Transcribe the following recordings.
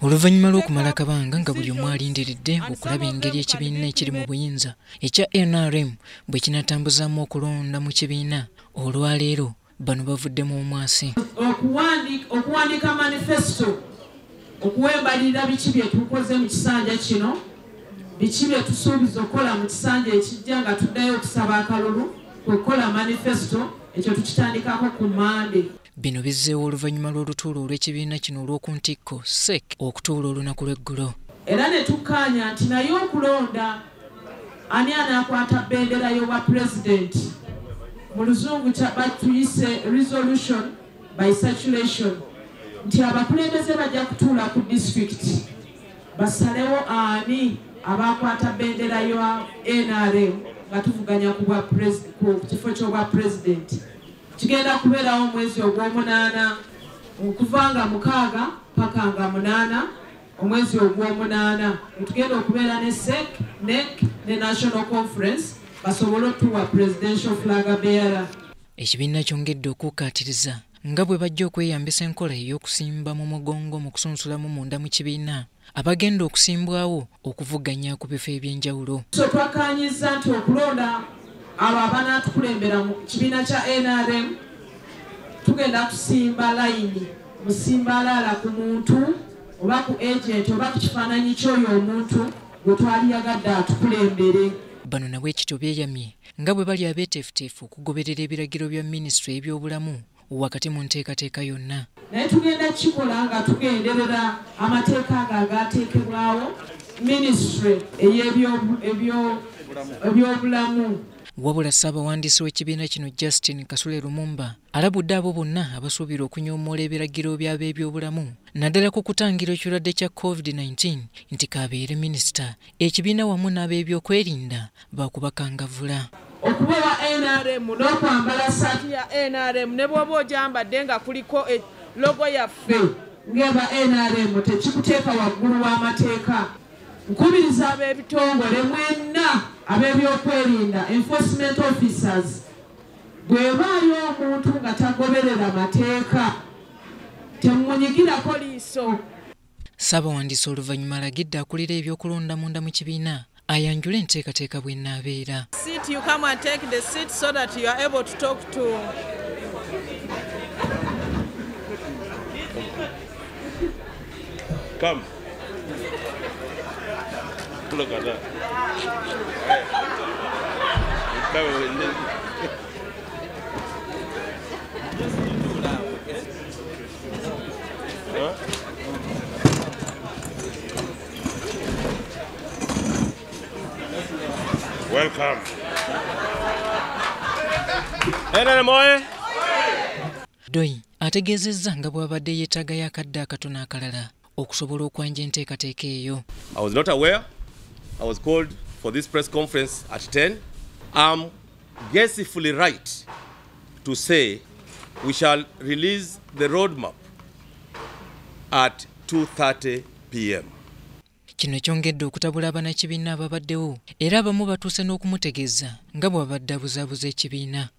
oluvannyuma lw'okumala akabanga nga buli omu alindiridde okulaba engeri ekibiina ekiri mu buyinza ekya nrm bwe kinatambuzaamu okulonda mu kibiina olwaleero bano bavuddemu omwasi okuwandiika manifesito okuwa embalirira biki bye tukoze mu kisanja kino biki bye tusuubiza okukola mu kisanja ekijja nga tuddayo okusaba akalulu kwe kukola manifesito ekyo tukitandikako ku mande Bino bizzeewo oluvannyuma lw'olutuula olw'ekibiina kino olw'oku ntikko sec okutuula olunaku lw'eggulo era ne tukkaanya nti naye okulonda ani anaakwata bendera y'obwa pulezidenti mu luzungu batuyise resolution by circulation nti abakulembeze bajja kutuula ku disitulikiti basalewo ani abaakwata bendera ya nrm nga tuvuganya ku kifo ky'obwa pulezidenti Kigenda kubeerawo omwezi ogw'omunaana okuva nga mukaaga paka nga munaana omwezi ogw'omunaana wetugenda okubeera ne sec nec ne national conference basobole otuwa presidential flag bearer ekibiina kyongedde okukkaatiriza nga bwe bajja okweyambisa enkola ey'okusimba mu mugongo mu kusunsulamu munda mu kibiina abagenda okusimbwawo okuvuganya ku bifo ebyenjawulo so twakkaanyizza nti okulonda abo abanaatukulembera mu kibiina kya nrm tugenda kusimba layini musimbaalaala ku muntu oba ku agenti oba ku kifaananyi ky'oyo omuntu gwe twali yagadde atukulembere bano nabwekityo beeyamye nga bwe bali abeeteefuteefu okugoberera ebiragiro bya minisitule y'ebyobulamu wakati mu nteekateeka yonna naye tugenda kukikola nga tugenderera amateeka ago agaateekebwawo minisitule ey'ebyobulamu wabula ssaabawandiisi w'ekibiina kino justin kasule lumumba alabudde abo bonna abasuubira okunyoomoola ebiragiro by'ab'ebyobulamu naddala ku kutangira ekirwadde kya covid-19 nti kaabeere minisita ekibiina wamu n'ab'ebyokwerinda baakubakangavula okuba wa nrm n'okwambala ssaati ya nrm ne bw'oba ogyambadde nga kuliko e, logo yaffe ng'eba nrm tekikuteeka waggulu w'amateeka nkubiriza ab'ebitongole mwenna ab'ebyokwerinda enforcement officers bwebaayo omuntu nga tagoberera mateeka temunyigirako liiso Ssaabawandiisi oluvannyuma alagidde akulira eby'okulonda munda mu kibiina ayanjule enteekateeka bw'enaabeera. Come. Look at that. Hey. Welcome. NRM oye! Doi ategeezezza nga bw'abadde yeetaaga y'akadde akatono akalala okusobola okwanja enteekateeka eyo I was not aware. I was called for this press conference at 10. I'm guessfully right to say we shall release the roadmap at 2.30 p.m. kino kyongedde okutabula abanakibiina ababaddewo era abamu batuuse n'okumutegeeza nga bw'abadde abuzaabuza ekibiina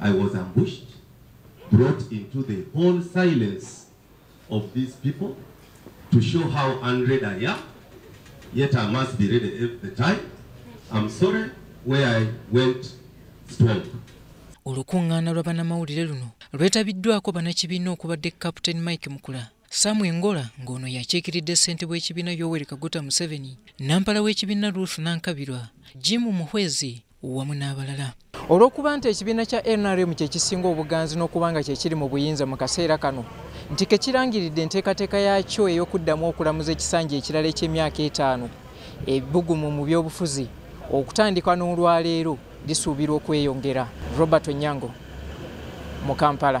I was ambushed, brought into the whole silence of these people to show how unread I am, yet I must be ready at the time. I'm sorry where I went strong. Olukungaana lwa banamawulire luno lwetabiddwako banakibiina okubadde Captain Mike Mukula Samu Engola ng'ono yakiikiridde ssente bw'ekibiina Yoweri Kaguta Museveni, Nampala w'ekibiina Ruth Nankabirwa, Jim Muhwezi, wamu n'abalala olw'okuba nti ekibiina kya nrm kye kisinga obuganzi n'okuba nga kye kiri mu buyinza mu kaseera kano nti ke kirangiridde enteekateeka yaakyo ey'okuddamu okulamuza ekisanja ekirala eky'emyaka etaano ebbugumu mu byobufuzi okutandika n'olwaleero lisuubirwa okweyongera robert onyango mu kampala